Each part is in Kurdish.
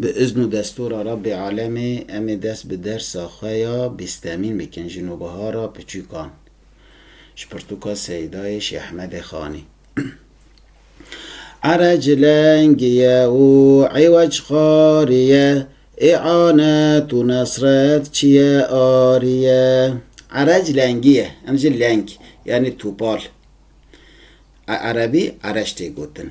Bi izn û destûra Rabbê Alemê em ê dest bi dersa xwe ya bîstemîn bikin ji Nobihara Piçûkan ji pirtûka Seyîdayê Şêh Ehmedê Xanî. Ere cilengî ye û îwec xarî ye, î'anet û nesret çiye arî ye. Ere cilengî ye, em ji leng yanî topal, a erebî ereş tê gotin.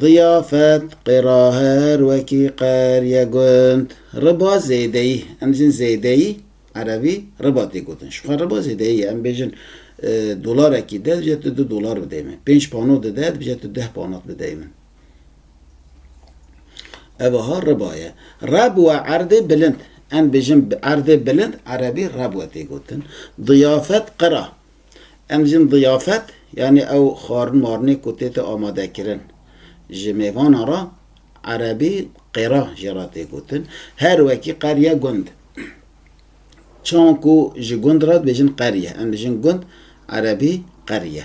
Diyafet, qêra her wekî qer ye gund. Riba zêdeyî, em dîjin zêdeyî, erebî, riba tê gotin. Jixwe riba zêdeyî ye. Em bêjin dolarekî de dibije tu du dolar bideyî min. Pênc panot dide dibije tu deh panot bideyî min. Ev aha riba ye. Reb we erdê bilind. Em bêjin erdê bilind, erebî, reb we tê gotin. Diyafet, qira. Em jin diyafet yanî ew xwarin marinê ku tête amadekirin ji mêvanan re erebî qêra jê re tê gotin. Her wekî qeriye gund. Çawan ku ji gund re dibêjin qeriye em dijin gund erebî qeriye.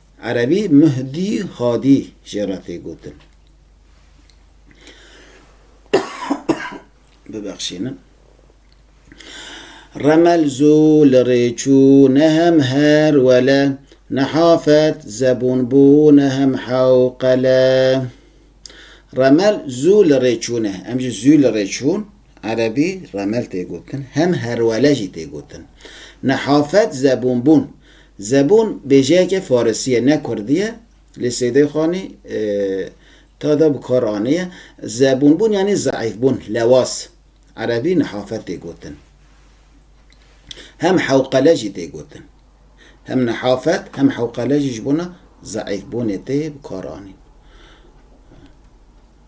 Erebî, Mehdi Hadî jê re tê gotin. Bibexşînin. Remel zû li rê çû nehem her wele, nehafet zebûn bû nehem hewqele. Remel zû li rê çûne. Em jî zû li rê çûn. Erebî, Remel tê gotin. Hem herwele jî tê gotin. Nehafet zebûn bûn. Zebûn bêjeyeke farisî ye ne kurdî ye. Lê Seydê Xanî tada bi kar anîye. Zebûnbûn yanî zeîfbûn, lewaz. Erebî nihafe tê gotin. Hem hewqele jî tê gotin. Hem nihafet hem hewqele jî ji bona zeîfbûnê tê bi kar anîn.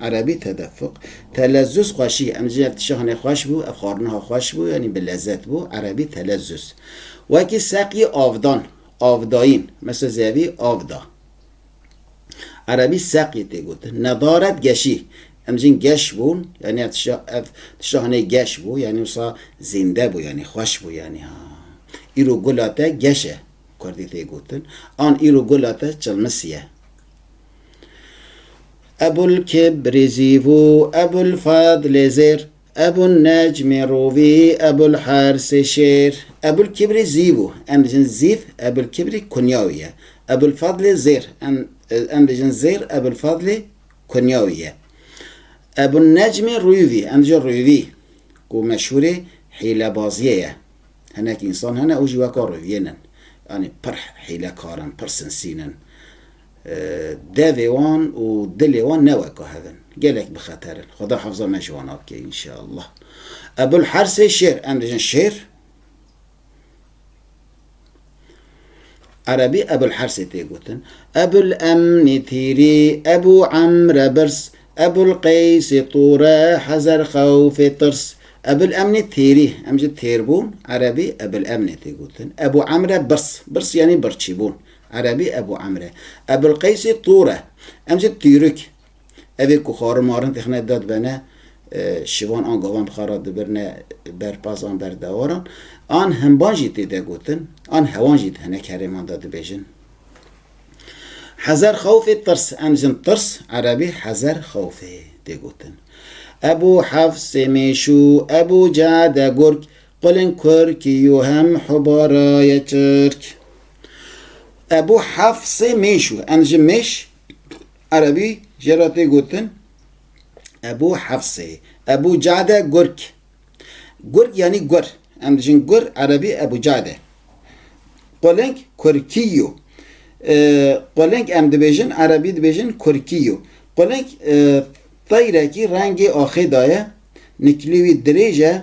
Erebî, Tedefuk, Telezzuz, xweşî, em jî ev tişa hinê xweş bû, ev xwariniha xweş bû, yanî bi lezet bû, Erebî, Telezzuz. Wekî seqî avdan, avdayîn, mesela zevî av da. Erebî, Seqî, tê gotin. Nedaret, geşî, em jîn geş bûn, yanî ev tişa ev tişa hinê geş bû, yanî wisa zînde bû, yanî xweş bû, yanî ha. Îro gula te geş e, kurdî tê gotin. An îro gula te çilmisî ye. Ebul Kibrîzî vû, Ebul Fadlê Zêr, Ebul Necmê Rûvî, Ebul Hersê Şêr. Ebul Kibrî Zî vû, em dijin Zîv, Ebul Kibrî kunya wî ye. Ebul Fadlê Zêr, em dijin Zêr, Ebul Fadlê kunya wî ye. Ebul Necmê Rûvî, em dijin Rûvî, ku meşhûrê hîlebaziyê ye. Hinek însan hene û jî weka Rûviyên in. Yanî pir hîlekar in, pir sinsîn in. Devê wan û dilê wan ne weka hev in. Gelek bi xeter in. Xweda hefza me ji wan a bike înşeallah. Ebul Hersê Şêr, em dijin Şêr. Erebî Ebul Hersê tê gotin. Ebul Emnî Tîrî, Ebû Emre Birs, Ebul Qeysî Tûre, Hezer Xewfê Tirs. Ebul Emnî Tîrî, em ji têrbûn, Erebî Ebul Emnê tê gotin. Ebû Emre Birs, Birs yanî birçîbûn. Erebî Ebû Emr e. Ebûlqeysî Tûr e. Em jî Tîrûk. Ev ê ku xwarin marin têxine da dibene şivan an gavan bi xwe re dibirne ber paz an ber dewaran. An himban jî tê de gotin, an hewan jî di hinek herêman de dibêjin. Hezer xewfê tirs, em dijin tirs, erebî hezer xewfê tê gotin. Ebû Hefs, Mêşû, Ebû Cade, Gurg, Qulên Kur ki yo hem hubara ye Tirk. Ebû Hefsê mêş o. Em ji mêş, erebî, jê re tê gotin Ebû Hefsê. Ebû Cade Gurk. Gurk yanî gur. Em dijin gur, erebî, Ebû Cade. Qulênk Kurkî yo. Qulênk em dibêjin, erebî dibêjin Kurkî yo. Qulênk teyrekî rengê axê daye, nikilê wî dirêj e,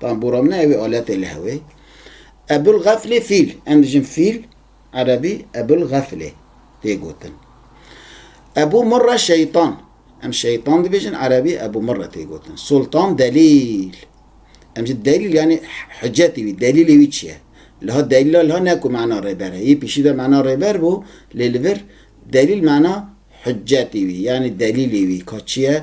Tam boramne ew ê aletê li hew ê. Ebul Gaflê fîl. Em dijin fîl erebî Ebul Gaflê tê gotin. Ebû Murre şeytan. Em şeytan dibêjin erebî Ebû Murre tê gotin. Sultan Delîl. Em jî delîl yanî hicetî wî, delîlê wî çi ye? Liha delîla liha ne ku mana rêber e. Yê pîşî de mana rêber bû lê li vir delîl mana hicetî wî yanî delîlê wî ka çi ye?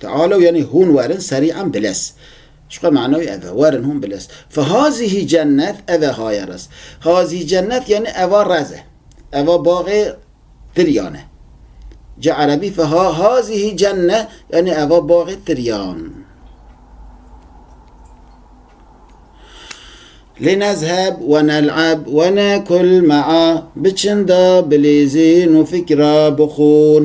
Tealew yanî hûn werin serî em bilez. Ji xwe manayî ev e, werin hûn bilez. Fe hazîhî cennet, ev e haye rez. Hazîhî cennet yanî eva rez e. Eva baxê tiryan e. Ji erebî fe ha hazîhî cenne yanî eva baxê tiryan. Linezheb ve nel'eb ve nekul me'a, biçin da bilîzîn û fikra bixwin.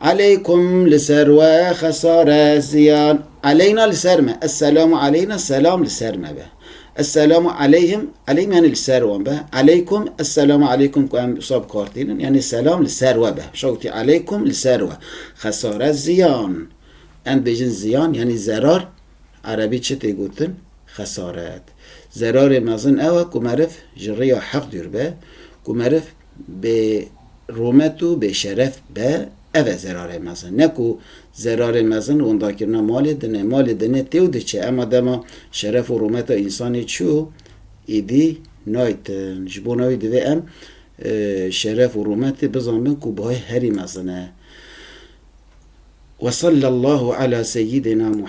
Aleykum li ser we xesare ziyan. Aleyna li ser me. Esselamu aleyna selam li ser me be. Esselamu aleyhim aleyhim yanî li ser wan be. Aleykum esselamu aleykum ku em wisa bi kar tînin yanî selam li ser we be. Şa witî aleykum li ser we xesare ziyan. Em dibêjin ziyan yanî zerar erebî çi tê gotin? Xesaret. Zerarê mezin ew e ku meriv ji rêya heq dûr be, ku meriv, Bê rûmet û bê şeref be, ev e zerarê mezin. Ne ku zerarê mezin windakirina malê din e. Malê din e tê û diçe. Ema dema şeref û rûmeta însanê çû, îdî naytin. Ji bona wî divê em şeref û rûmetê bizanbin ku buhay herî mezin e. Wesallallahu ala seyyidina Muhammed.